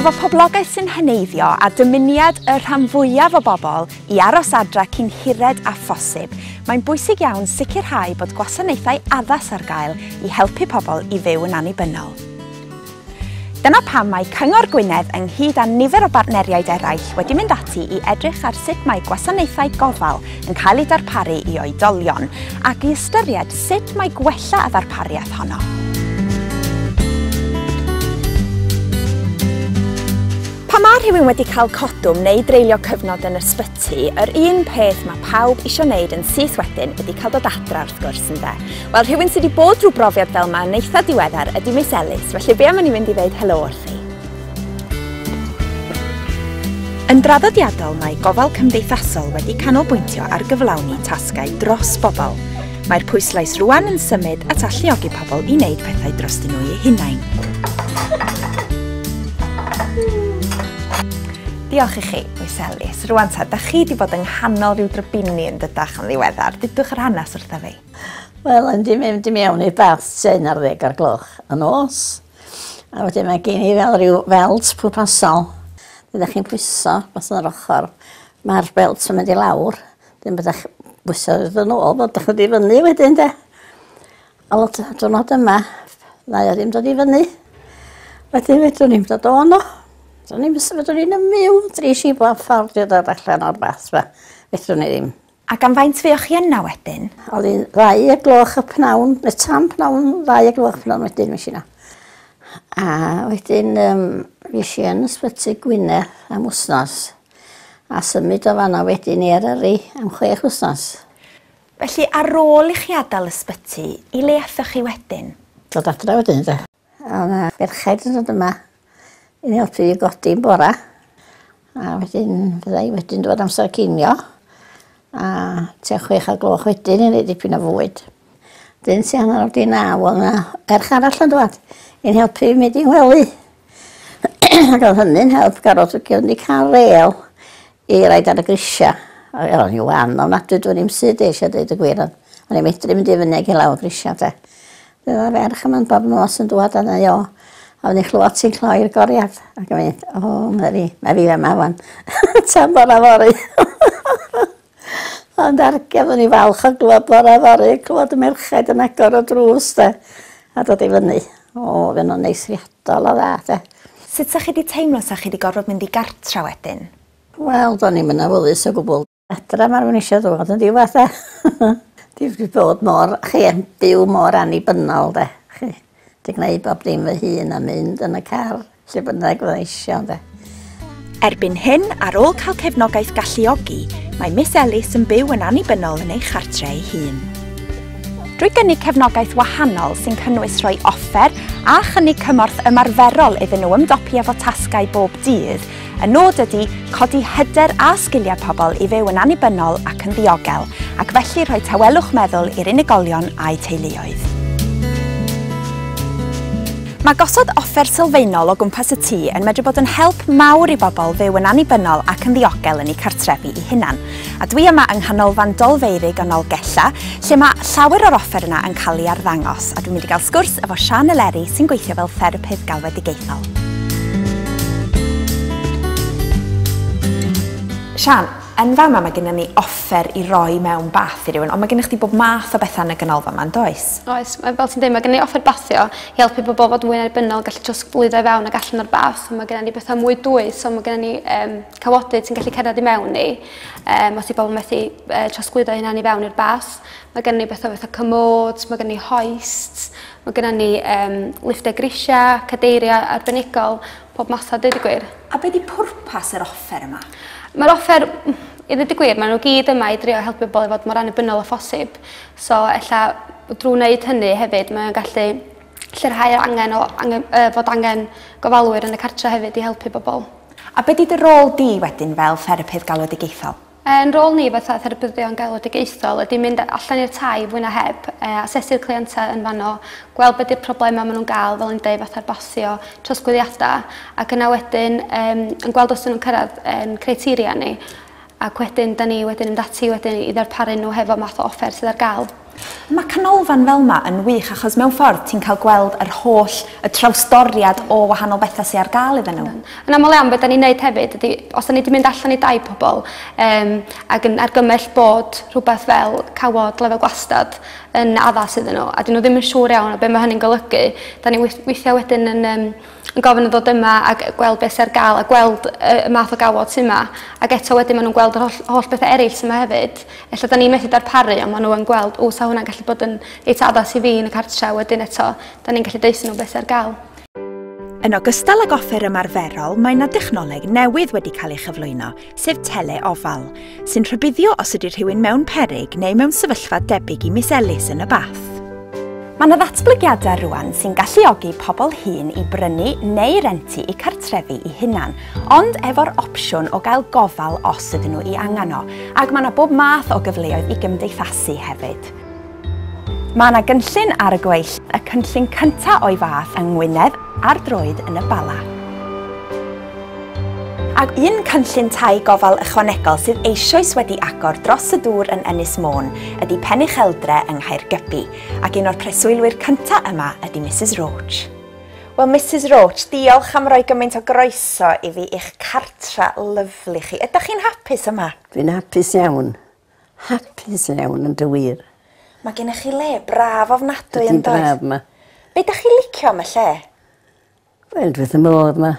Efo poblogaeth sy'n heneiddio a dymuniad y rhan fwyaf o bobl i aros adre cyn hired â phosib, mae'n bwysig iawn sicrhau bod gwasanaethau addas ar gael i helpu pobl i fyw yn annibynnol. Dyna pam mae Cyngor Gwynedd ynghyd â nifer o bartneriaid eraill wedi mynd ati i edrych ar sut mae gwasanaethau gofal yn cael eu darparu i oedolion ac i ystyried sut mae gwella y ddarpariaeth honno. Pan mae rhywun wedi cael codwm neu dreulio cyfnod yn ysbyty, ti, yr un peth mae pawb isio wneud yn syth wedyn ydy cael dod adra wrth gwrs ynde? Wel rhywun sydd wedi bod drwy brofiad fel yma yn eitha diweddar ydy Miss Ellis, felly be am i ni fynd i ddeud helo wrthi? Yn draddodiadol mae gofal cymdeithasol wedi canolbwyntio ar gyflawni tasgau dros bobl. Mae'r pwyslais rwan yn symud at alluogi pobl i wneud pethau drostyn nhw eu hunain. Diolch i chi. Oes Elis, rwan ta, da chi di bod yng nghanol rhyw drybini yn dydach yn ddiweddar, dydwch yr hanes wrtha fi. Wel, yn di mynd i mewn i'r bath sy'n ar ddeg ar gloch y nos. A wedyn mae gen i fel rhyw felt pwrpasol. Dydych chi'n pwyso, bas yn yr ochr. Mae'r belt yn mynd i lawr. Dyn byddech bwyso yn ôl, byddech wedi fyny wedyn de. A lot o diwrnod yma, na i ddim dod i fyny. Wedyn fedrwn ni'n dod o'n o. Do'n i'n mynd fedrwn ni'n ymwneud dri si bo ffordd i ddod allan o'r bath fe. Fedrwn ni ddim. Ac am faint fe o'ch chi yna wedyn? Oedd hi'n ddau y gloch y pnawn, y tan pnawn ddau y gloch pnawn wedyn mis yna. A wedyn um, fes i yn ysbyty Gwynedd am wsnos a symud o fanna wedyn i Eryri am chwech wsnos. Felly ar ôl i chi adael ysbyty, i le aethoch chi wedyn? Dod adra wedyn de. O'dd 'na ferchaid yn dod yma i mi helpu fi godi yn bora. A wedyn fydda i wedyn dod amser cinio. A tua chwech o'r gloch wedyn i neud dipyn o fwyd. Dyn tua hanner awr 'di naw o'dd 'na ferch arall yn dwad i'n helpu fi mynd i'n ngwely. Ag o'dd hynny'n help garot ag o'n i ca'l rêl I raid ar y grisiau. Wel, o'n i'n wan ofnadwy, dwi'n i'm sydd eisiau dweud y gwir, ond o'n i'n medru mynd i fyny ag i lawr grisiau, de. Fe oedd ferch yma'n bob nos yn dwad a neu o, a o'n i'n chlywed ti'n cloi'r goriad, ac yn mynd, o, oh, Mary, mae fi yma wan, tan bora fori. ond argef o'n i'n falch o glywed bora fori, clywed y merchaid yn agor o drws, de, a dod i fyny. O, fe nhw'n neis riad. Dala dda 'de? Sut 'sa chi 'di teimlo 'sa chi 'di gorfod mynd i gartra wedyn? Wel, do'n i'm yn awyddus o gwbwl. Adra ma'r wn isio ddod yn ddiwadd 'de? Dwi 'di bod mor, chi, yn byw mor annibynnol 'de, chi. 'Di gneud bob dim fy hun a mynd yn y car lle bynnag fyddai isio ynde. Erbyn hyn, ar ôl cael cefnogaeth galluogi, mae Miss Ellis yn byw yn annibynnol yn ei chartre ei hun. Drwy gynnig cefnogaeth wahanol sy'n cynnwys rhoi offer a chynnig cymorth ymarferol iddyn nhw ymdopi efo tasgau bob dydd, y nod ydy codi hyder a sgiliau pobl i fyw yn annibynnol ac yn ddiogel, ac felly rhoi tawelwch meddwl i'r unigolion a'u teuluoedd. Mae gosod offer sylfaenol o gwmpas y tŷ yn medru bod yn help mawr i bobl fyw yn annibynnol ac yn ddiogel yn eu cartrefi eu hunan. A dwi yma yng Nghanolfan Dolfeurig yn Nolgella, lle mae llawer o'r offer yna yn cael ei arddangos, a dwi'n mynd i gael sgwrs efo Siân Eleri sy'n gweithio fel therapydd galwedigaethol. Siân, yn fama mae gennym ni offer i roi mewn bath i rywun, ond mae gennych chdi bob math o bethau yn y ganolfan yma, yn does? Oes mae fel ti'n dweud mae gen i offer bathio i helpu pobl fod mwy annibynnol gallu trosglwyddo i fewn ac allan o'r bath so mae gen ni bethau mwy dwys so mae gen ni um, cawodydd sy'n gallu cerdded i mewn ni um, os i bobl methu uh, trosglwyddo hynna i fewn i'r bath mae gen ni bethau fatha cymod mae gen ni hoist mae gen ni um, lifftau grisiau cadeiriau arbenigol pob math a dweud y gwir a beth di pwrpas yr offer yma? Mae'r offer i ddweud y gwir, maen nhw gyd yma i drio helpu bobl i fod mor annibynnol o phosib. So ella w- drw wneud hynny hefyd mae o'n gallu lleihau yr angen o angen yy fod angen gofalwyr yn y cartre hefyd i helpu bobol. A be' 'di dy rôl di wedyn fel therapydd galwedigaethol? Yn rôl ni fatha therapyddion galwedigaethol ydi mynd a- allan i'r tai fwy na heb yy asesu'r cleiente yn fanno gweld be' 'di'r problema ma' nw'n ga'l fel o'n i'n deud fatha'r basio trosglwyddiada ac yna wedyn yym yn gweld os 'dyn nw'n cyrradd 'yn criteria ni. Ac wedyn 'da ni wedyn yn mynd ati wedyn i ddarparu nhw hefo math o offer sydd ar gael. Mae canolfan fel 'ma yn wych achos mewn ffordd ti'n cael gweld yr holl y trawsdoriad o wahanol betha sy ar gael iddyn nhw. Yn aml iawn be' 'da ni'n neud hefyd ydi os 'da ni 'di mynd allan i dai pobol yym ag yn argymell bod rhwbeth fel cawod lefel gwastad yn addas iddyn n'w a 'dyn n'w ddim yn siŵr iawn o be' ma' hynny'n golygu 'da ni wis- withia wedyn yn yym yn gofyn i ddod yma ag yy gweld be' sy ar ga'l a gweld y y math o gawod sy 'ma ag eto wedyn ma' nw'n gweld yr holl holl bethe eryll sy 'ma hefyd. Ella 'dan ni methu darparu on' ma' n'w yn gweld o 'sa hwnna'n gallu bod yn reit addas i fi yn y cartre a wedyn eto 'dan ni'n gallu deutho n'w be' sy ar ga'l. Yn ogystal ag offer ymarferol mae 'na dechnoleg newydd wedi cael ei chyflwyno sef tele-ofal, sy'n rhybuddio os ydy rhywun mewn peryg neu mewn sefyllfa debyg i Miss Ellis yn y bath. Mae yna ddatblygiadau rwan sy'n galluogi pobl hŷn i brynu neu rentu i cartrefi i hunan, ond efo'r opsiwn o gael gofal os ydyn nhw i angen o, ac mae yna bob math o gyfleoedd i gymdeithasu hefyd. Mae yna gynllun ar y gweill, y cynllun cyntaf o'i fath yng Ngwynedd ar droed yn y Bala. Ac un cynllun tai gofal ychwanegol sydd eisoes wedi agor dros y dŵr yn Ynys Môn ydy Pen Ucheldre yng Nghaergybi, ac un o'r preswylwyr cyntaf yma ydy Misus Roach. Wel, Misus Roach, diolch am roi gymaint o groeso i fi i'ch cartre lyfli chi. Ydych chi'n hapus yma? Dwi'n hapus iawn. Hapus iawn yn dy wir. Mae gennych chi le braf ofnadwy yn does? Ydi'n braf 'ma. Be' 'dach chi'n licio am y lle? Wel dwi wrth fy modd 'ma.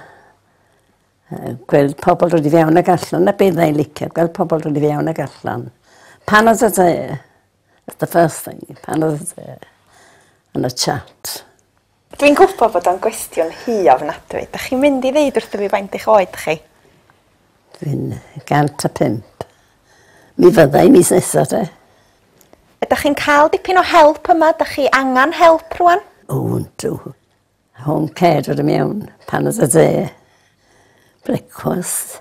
Yy gweld pobol dod i fewn ag allan 'na be' fydda i'n licio gweld pobol dod i fewn ag allan. Pan odd y yy that's the first thing pan odd yy yn y chat. Dwi'n gwbo bod o'n gwestiwn hŷ ofnadwy. Dach chi'n mynd i ddeud wrtho fi faint eich oed chi? Dwi'n 105. Mi fydda i mis nesa te. Ydach chi'n cael dipyn o help yma? Dach chi angan help rwan? O yndw. Home care dod yn iawn. Paned a de. Brecwast.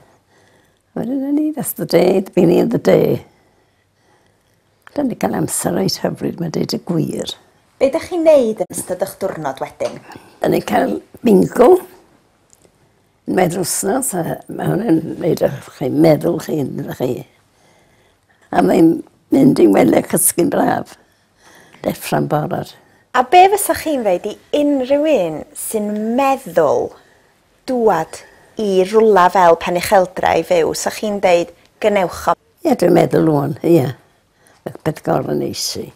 Wedyn o'n i that's the day, beginning of the day. Dw i wedi cael amser reit hyfryd ma' deud y gwir. Be dach chi'n neud yn ystod ych diwrnod wedyn? O'n ni'n cael bingo unwaith yr wsnos a ma' hwn yn neud ych chi meddwl chi'n fel chi a mae'n mynd i'n wely cysgu'n braf. Deffro'n barod. A be' fysach chi'n ddeud i unrhyw un sy'n meddwl dŵad i rwla fel Penycheldra i fyw, sa chi'n deud gwnewch o? Ie dwi'n meddwl ŵan ie. Ma' peth gormod neis i.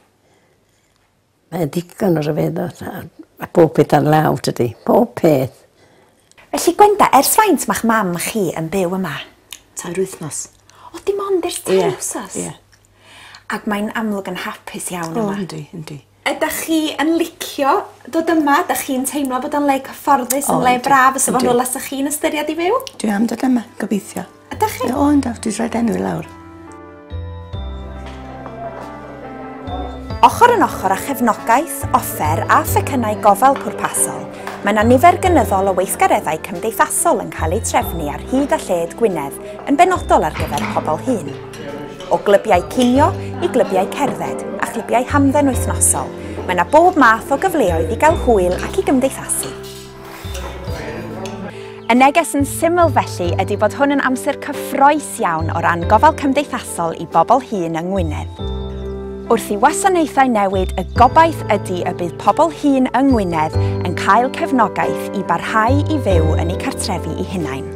Mae digon o ryfeddod a ma' pob peth ar law tydi? Pob peth. Felly Gwenda, ers faint ma'ch mam chi yn byw yma? Tair wythnos. O dim ond ers tair wsos? Ie ie. Ac mae'n amlwg yn hapus iawn yma. O yndi yndi. Ydach chi yn licio dod yma 'dach chi'n teimlo bod o'n le cyfforddus yn le braf fysa fo'n rwla 'sach chi'n ystyried i fyw? Dwi am dod yma gobeithio. Ydach chi? O yndw dwi rhoid enw i lawr. Ochr yn ochr â chefnogaeth, offer a phecynnau gofal pwrpasol, mae 'na nifer gynyddol o weithgareddau cymdeithasol yn cael eu trefnu ar hyd a lled Gwynedd yn benodol ar gyfer pobl hŷn. O glybiau cinio i glybiau cerdded a chlybiau hamdden wythnosol, mae yna bob math o gyfleoedd i gael hwyl ac i gymdeithasu. Y neges yn syml felly ydy bod hwn yn amser cyffroes iawn o ran gofal cymdeithasol i bobl hŷn yng Ngwynedd. Wrth i wasanaethau newid y gobaith ydy y bydd pobl hŷn yng Ngwynedd yn cael cefnogaeth i barhau i fyw yn eu cartrefi i hunain.